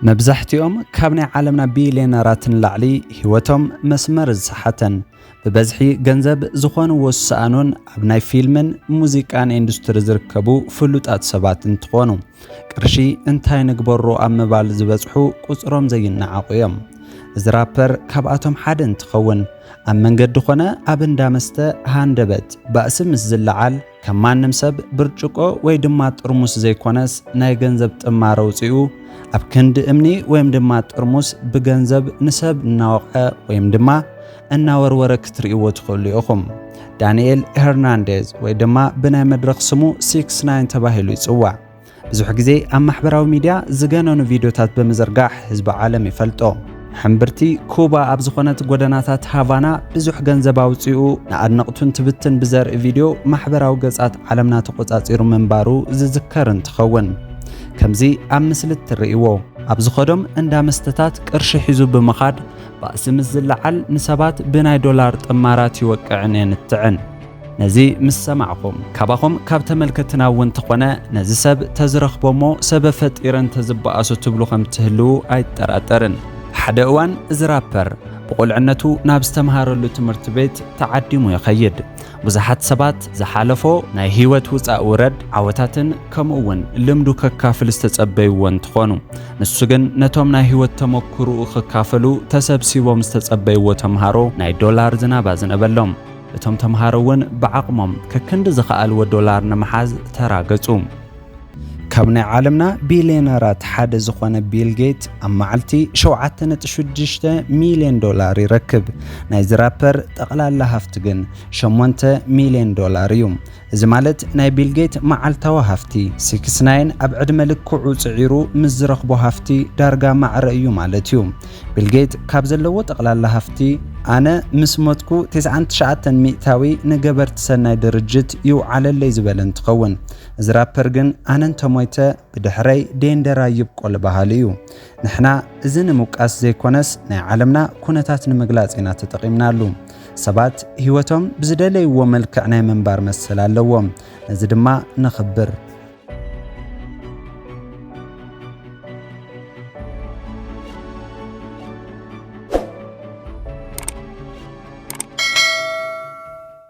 መብዛሕትኦም ካብ ናይ ዓለምና ቢልየነራት ንላዕሊ ህይወቶም መስመር ዝሰሓተን ብበዝሒ ገንዘብ ዝኾንዎ ዝሰኣኑን ኣብ ናይ ፊልምን ሙዚቃን ኢንዱስትሪ ዝርከቡ ፍሉጣት ሰባት እንትኾኑ ቅርሺ እንታይ ንግበሮ ኣብ ምባል ዝበፅሑ ቁፅሮም ዘይነዓቑ እዮም። እዚ ራፐር ካብኣቶም ሓደ እንትኸውን ኣብ መንገዲ ኾነ ኣብ እንዳ መስተ ሃንደበት ባእሲ ምስ ዝለዓል ከም ማንም ሰብ ብርጭቆ ወይ ድማ ጥርሙስ ዘይኮነስ ናይ ገንዘብ ጥማር ኣውጺኡ ኣብ ክንዲ እምኒ ወይም ድማ ጥርሙስ ብገንዘብ ንሰብ እናወቕዐ ወይም ድማ እናወርወረ ክትርእይዎ ትኽእሉ ኢኹም። ዳንኤል ሄርናንዴዝ ወይ ድማ ብናይ መድረኽ ስሙ ሲክስ ናይን ተባሂሉ ይጽዋዕ። ብዙሕ ግዜ ኣብ ማሕበራዊ ሚድያ ዝገነኑ ቪድዮታት ብምዝርጋሕ ህዝቢ ዓለም ይፈልጦ። ሕምብርቲ ኩባ ኣብ ዝኾነት ጎደናታት ሃቫና ብዙሕ ገንዘብ ኣውጺኡ ንኣድነቕቱ እንትብትን ብዘርኢ ቪድዮ ማሕበራዊ ገጻት ዓለምና ተቖጻጺሩ ምንባሩ ዝዝከር እንትኸውን ከምዚ ኣብ ምስሊ እትርእይዎ ኣብ ዝኸዶም እንዳ መስተታት ቅርሺ ሒዙ ብምኻድ ባእሲ ምስ ዝለዓል ንሰባት ብናይ ዶላር ጥማራት ይወቅዕን የንትዕን። ነዚ ምስ ሰማዕኹም ካባኹም ካብ ተመልከትትና እውን ተኾነ ነዚ ሰብ ተዝረኽቦ እሞ ሰበ ፈጢረ እንተዝበኣሶ ትብሉ ከም ትህልዉ ኣይጠራጠርን። ሓደ እዋን እዚ ራፐር ብቑልዕነቱ ናብ ዝተምሃረሉ ትምህርቲ ቤት ተዓዲሙ ይኸይድ። ብዙሓት ሰባት ዝሓለፎ ናይ ህይወት ውፃእ ውረድ፣ ዓወታትን ከምኡ እውን ልምዱ ከካፍል ዝተፀበይዎ እንትኾኑ ንሱ ግን ነቶም ናይ ህይወት ተመኩርኡ ክካፈሉ ተሰብሲቦም ዝተፀበይዎ ተምሃሮ ናይ ዶላር ዝናብ ኣዝነበሎም። እቶም ተምሃሮ እውን ብዓቕሞም ከክንዲ ዝኸኣልዎ ዶላር ንምሓዝ ተራገጹ። ካብ ናይ ዓለምና ቢልየነራት ሓደ ዝኾነ ቢል ጌት ኣብ መዓልቲ ሸውዓተ ነጥቢ ሽዱሽተ ሚልዮን ዶላር ይረክብ። ናይዚ ራፐር ጠቕላላ ሃፍቱ ግን ሸሞንተ ሚልዮን ዶላር እዩ። እዚ ማለት ናይ ቢል ጌት መዓልታዊ ሃፍቲ፣ ሲክስ ናይን ኣብ ዕድመ ልክዑ ጽዒሩ ምስ ዝረኽቦ ሃፍቲ ዳርጋ ማዕረ እዩ ማለት እዩ። ቢል ጌት ካብ ዘለዎ ጠቕላላ ሃፍቲ፣ ኣነ ምስ ሞትኩ ቴስዓን ትሽዓተን ሚእታዊ ንገበርቲ ሰናይ ድርጅት ይውዓለለይ ዝበለ እንትኸውን፣ እዚ ራፐር ግን ኣነ እንተሞይተ ብድሕረይ ዴንደራ ይብቆል በሃሊ እዩ። ንሕና እዚ ንምውቃስ ዘይኮነስ ናይ ዓለምና ኩነታት ንምግላጽ ኢና ተጠቒምናሉ። ሰባት ህይወቶም ብዝደለይዎ መልክዕ ናይ ምንባር መሰል ኣለዎም። ነዚ ድማ ነኽብር።